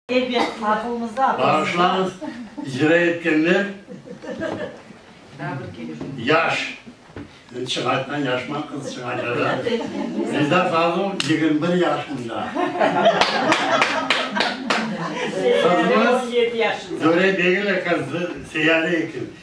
Elbet, aqılımızda aqıl. Bağışlañız, icra etkenler yaş, endi çıñaytman yaşman, qız çıñaytadı. Reza Fazıl yigirmi bir yaşında. Qızımız Döre Begim ekan, Seyare ekan.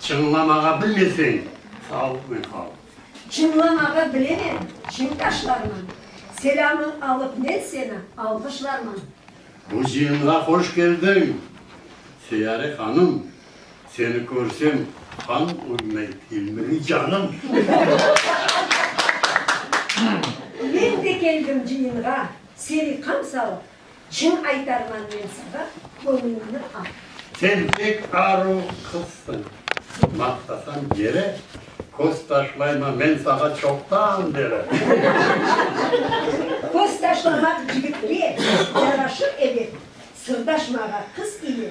Çıñlamağa bilmeseñ, sal ve qal. Çıñlamağa bilemem, çiñ taşlarman. Selâmı alıp men seni alğışlarman. Muzeyimğa hoş keldiñ, Seyare hanım. Seni körsem, qan ürmey ilmiri canım. Men de keldim cıyınğa, seni qamsalıp. Cın aytarman men sağa, köñlüñni al. Sen pek aru qızsıñ, maqtasañ yere, köz taşlayma men sağa çoqtan beri. Köz taşlamaq cigitke yaraşır ebet, sırdaşmağa qız ile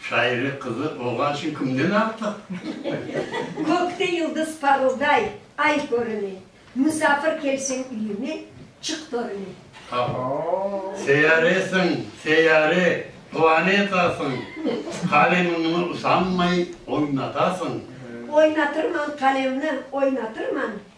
Şaire qızı olğan içün kimden artıq? Kökte yıldız parılday, ay körüne. Musafir kelseñ üyüme, çık törüne. Seyyaresiñ, seyyare, planetasıñ. Qalemiñni usanmay oynatasıñ. Oynatırman qalemni, oynatırman.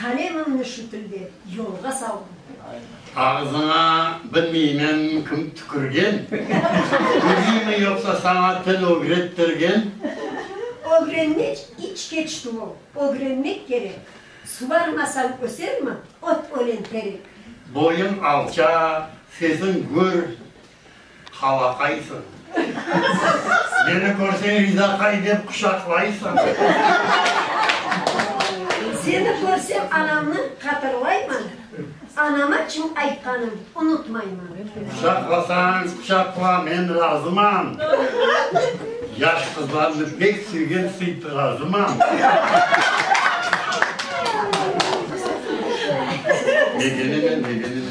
Qalemimni şu tilde yolğa saldım. Ağızıña bilmeymen kim tükürgen, Biliymi yoqsa saña til ögrettirgen? Ögrenmek iç keçti ol, ögrenmek kerek, Suvarmasañ ösermi ot ölen terek? Boyuñ alçaq, sesiñ gür, Halaqaysıñ. Meni körseñ Rizaqay dep quçaqlaysıñ. Seni körsem anamnı qatırlayman, anama çim aytqanım unutmayman. Quçaqlasañ quçaqla men razıman, yaş qızlarnı bek sevgen sıyt razıman. Megenime megenime.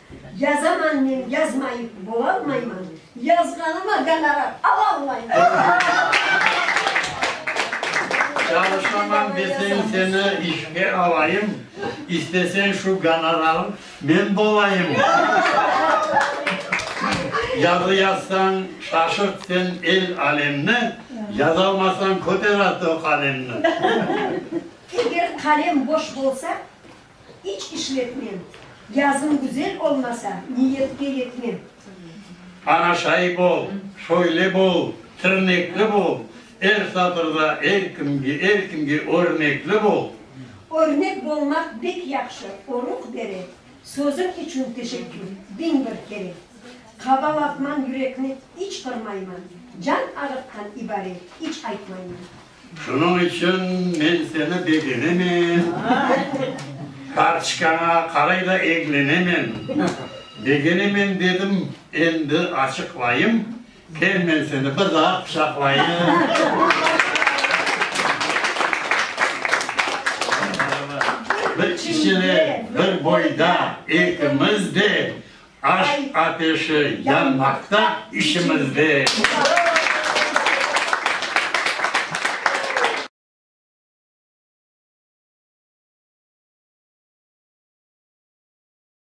Yazaman men, yazmayıp bolalmayman, yazğanıma gonorar alalmayman. Çalışaman desen seni işke alayım, istesen şu gonorarım men bolayım. Yazı yazsañ şaşırt sen el alemni, yazalmasañ köter artıq qalemni. Eger qalem boş bolsa. İç işletmem. Yazım güzel olmasa, niyetke yetmem. Aña şayip ol, şöyle bol, tirnekli bol, er satırda er kimge, er kimge örnekli bol. Örnek bolmaq bek yahşı, oruq bere. Sözüñ içün teşekkür, biñ bir kere. Qabalatman yürekni, iç qırmayman, can ağırtqan ibare, iç aytmayman. Şunıñ içün men seni begenemen, kartçkaña qaray da eglenemen. Begenemen dedim, endi açıqlayım, kel men seni bir daa quçaqlayım. Bir kişide, bir boyda, ekimiz de, Aş ateşi yanmaqta içimizde.